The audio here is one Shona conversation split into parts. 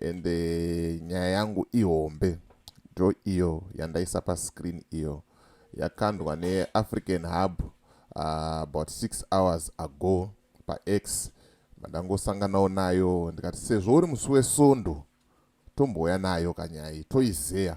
and eh, nyaya yangu ihombe ndo iyo yandaisa pascreen iyo yakandwa neafrican hub uh, about six hours ago pax mandangosanganawo nayo ndikati sezvo uri musi wesondo tombouya nayo kanyaya iyi toizeya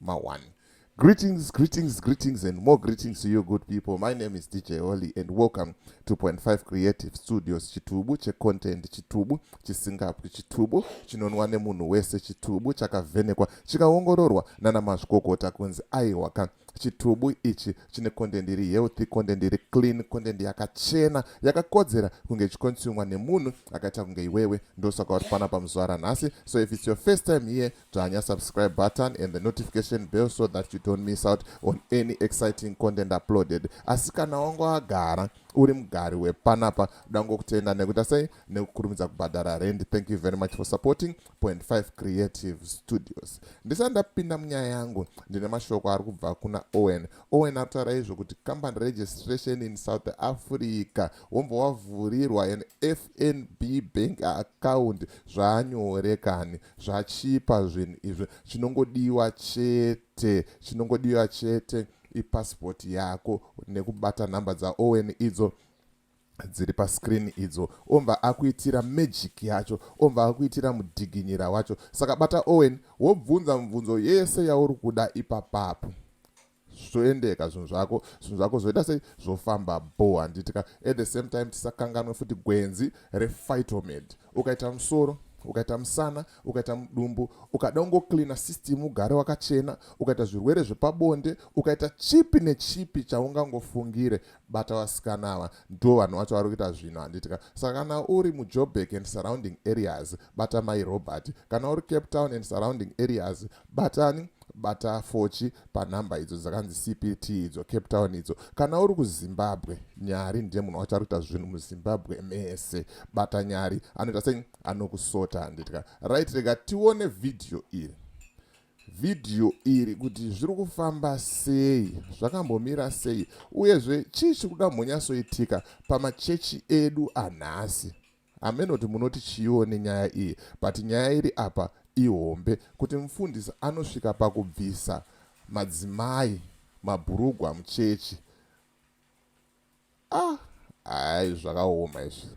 mawani Greetings, greetings, greetings, and more greetings to you, good people. My name is DJ Oli, and welcome to Point Five Creative Studios. Chitubu che content, chitubu chisingapwi, chitubu chinonwa nemunhu wese, chitubu chakavhenekwa, chikaongororwa nana mazvikokota kunzi aiwaka chitubu ichi chine content iri healthy content iri clean content yakachena yakakodzera kunge ichikonsumwa nemunhu akaita kunge iwewe ndosaka uri pana pamuzuva ranhasi so if its your first time here Dzvanya subscribe button and the notification bell so that you don't miss out on any exciting content uploaded. Asi kana wangu agara uri mugari wepanapa dangokutenda nekuita sei nekukurumidza kubhadhara rendi thank you very much for supporting point 5 creative studios ndisati ndapinda munyaya yangu ndine mashoko ari kubva kuna owen owen ari kutaura izvo kuti company registration in south africa wombva wavhurirwa an fnb bank account zvanyorekani zvachipa zvinhu izvi chinongodiwa chete chinongodiwa chete ipasipoti yako nekubata nhamba dzaowen idzo dziri pascreen idzo omva akuitira magic yacho omva akuitira mudhiginyira wacho saka bata owen wobvunza mubvunzo yese yauri kuda ipapapo zvoendeka zvinhu zvako zvinhu zvako zvoita sei zvofamba bo handiti ka at the same time tisakanganwe futi gwenzi refitomed ukaita musoro ukaita musana ukaita mudumbu ukada ungocleana system ugare wakachena ukaita zvirwere zvepabonde ukaita chipi nechipi chaungangofungire bata vasikana ava ndo vanhu vacho vari kuita zvinhu handitika saka kana uri mujobek and surrounding areas bata mai robert kana uri cape town and surrounding areas Batani bata fochi panhamba idzo dzakanzi cpt idzo cape town idzo kana uri kuzimbabwe nyari ndiye munhu wacho ari kuita zvinhu muzimbabwe mese bata nyari anoita sei anokusota handitya right rega tione vhidhiyo iri vhidhiyo iri kuti zviri kufamba sei zvakambomira sei uyezve chii chiri kuda mbonyasoitika pamachechi edu anhasi hameno kuti munoti chiiwo nenyaya iyi but nyaya iri apa ihombe kuti mufundisi anosvika pakubvisa madzimai mabhurugwa muchechi ah hayi zvakaoma izvi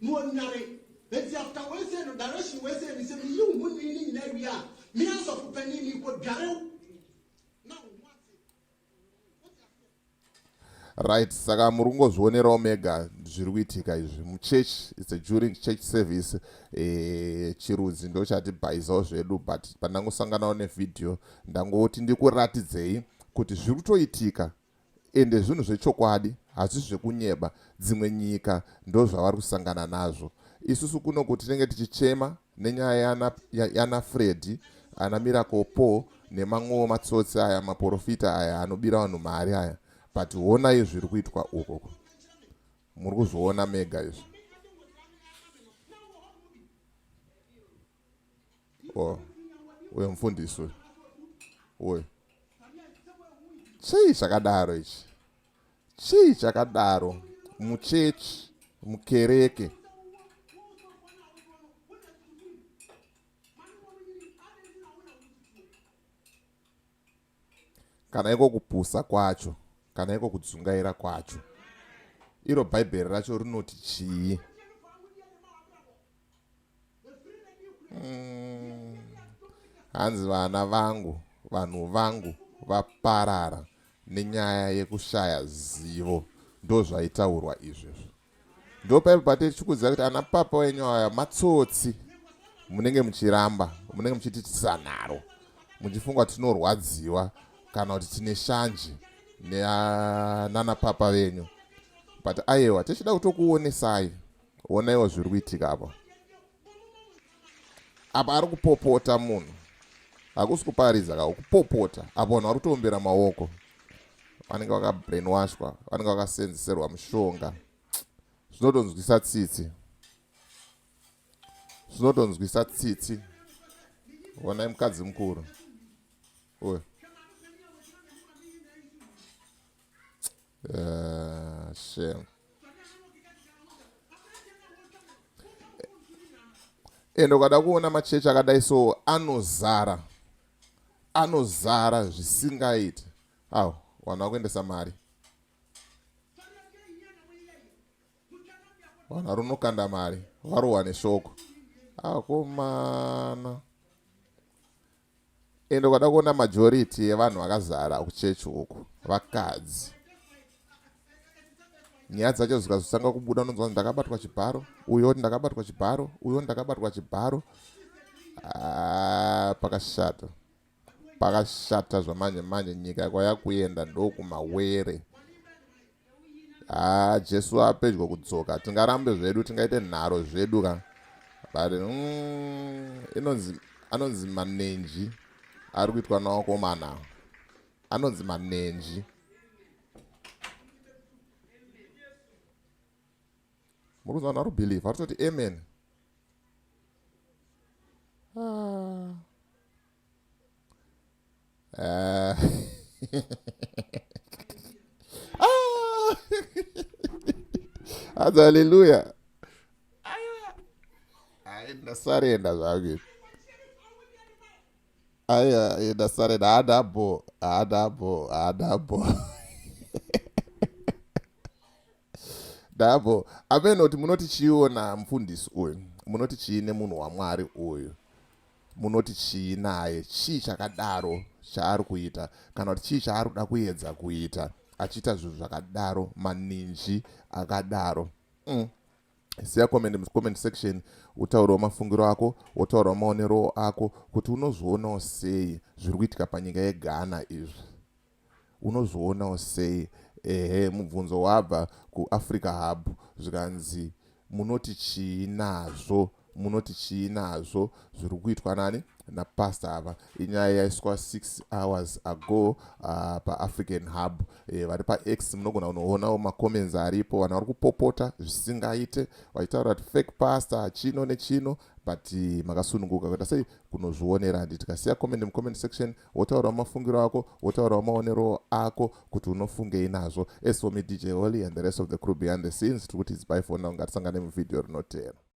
muonare bedzi after wese no direction wese ni se mi yu mu ni ni na ya mi ya so kupe ni ni ko dare right saka muri kungozvionerawo mega zviri kuitika izvi muchurch its a during church service e, chirudzi ndo chatibhaizawo zvedu but pandangosanganawo nevhidhiyo ndangoti ndikuratidzei kuti zviri kutoitika Ende zvinhu zvechokwadi hazvisi zvekunyeba dzimwe nyika ndozvavari kusangana nazvo isusu kunoku tinenge tichichema nenyaya yana, yana Freddy ana Miracle Paul nemamwewo matsotsi aya maporofita aya anobira vanhu mari aya but honai zviri kuitwa ukoko muri kuzviona mega izvi oh uyo mfundisi uyo uyo chii chakadaro ichi chii chakadaro muchechi mukereke kana iko kupusa kwacho kana iko kudzungaira kwacho iro bhaibheri racho rinoti chii hmm. hanzi mm. vana vangu vanhu vangu vaparara nenyaya yekushaya zivo ndozvaitaurwa izvezvo ndo paipo patiri tichikuziva kuti ana papa wenyu aya matsotsi munenge muchiramba munenge muchiti tisanaro muchifunga tinorwadziwa kana kuti tine shanje nana papa venyu but ayewa tichida kutokuonesai onaiwo zviri kuitika apa apa ari kupopota munhu hakusi kuparidza ka kupopota apo vanhu vari kutoombera maoko vanenge vakabrainwashwa vanenge vakasenzeserwa mushonga zvinotonzwisa tsitsi zvinotonzwisa tsitsi honai mukadzi mukuru uyo Uh, shame. ende ukada kuona machechi akadai so anozara anozara zvisingaiti aw vanhu vakuendesa mari vanhu vari unokanda mari varohwa neshoko akomana ah, ende ukada kuona majority yevanhu vakazara kuchechi uku vakadzi nyaya dzacho zikazotanga kubuda unonzwa ndakabatwa chibharo uyo oti ndakabatwa chibharo uyo ndakabatwa chibharo ah, pakashata pakashata zvamanje manje nyika kwaya kuenda ndokumawere haa ah, jesu apedyo kudzoka tingarambe zvedu tingaite nharo zvedu ka but mm, inonzi anonzi manenji ari kuitwa nawakomana anonzi manenji muri kuziva naro believe ari kutoti amen ah. Ah. ah. Hanzi haleluya. Aenda sarenda zvangu. Aya aenda sarenda haada bho haada bho haada bho. Ndabvo amenoti munoti chiiwo namufundisi uyu munoti chii nemunhu wamwari uyu munoti chii naye chii chakadaro chaari kuita kana kuti chii chaari kuda kuedza kuita achiita zvinhu zvakadaro maninji akadaro mm. siya comment mucomment section utaurawo mafungiro ako wotaurawo maonero ako kuti unozvionawo sei zviri kuitika panyika yeghana izvi unozvionawo sei ehe mubvunzo wabva kuafrica hub zvikanzi munoti chii nazvo munoti chii nazvo zviri kuitwa nani napastor ava inyaya yaiswa 6 hours ago uh, paafrican hub e, vari pax munogona kunoonawo macomments aripo vanhu vari kupopota zvisingaite vachitaura kuti fake pastor chino nechino but eh, makasununguka kuita sei kunozvionera handi tikasiya comment mucomment section wotaura mafungiro ako wotaura maonero ako kuti unofungei nazvo as for me dj holy and the rest of the crew behind the scenes tiri kuti idzipai fona ungatisangane muvhidhiyo rinotera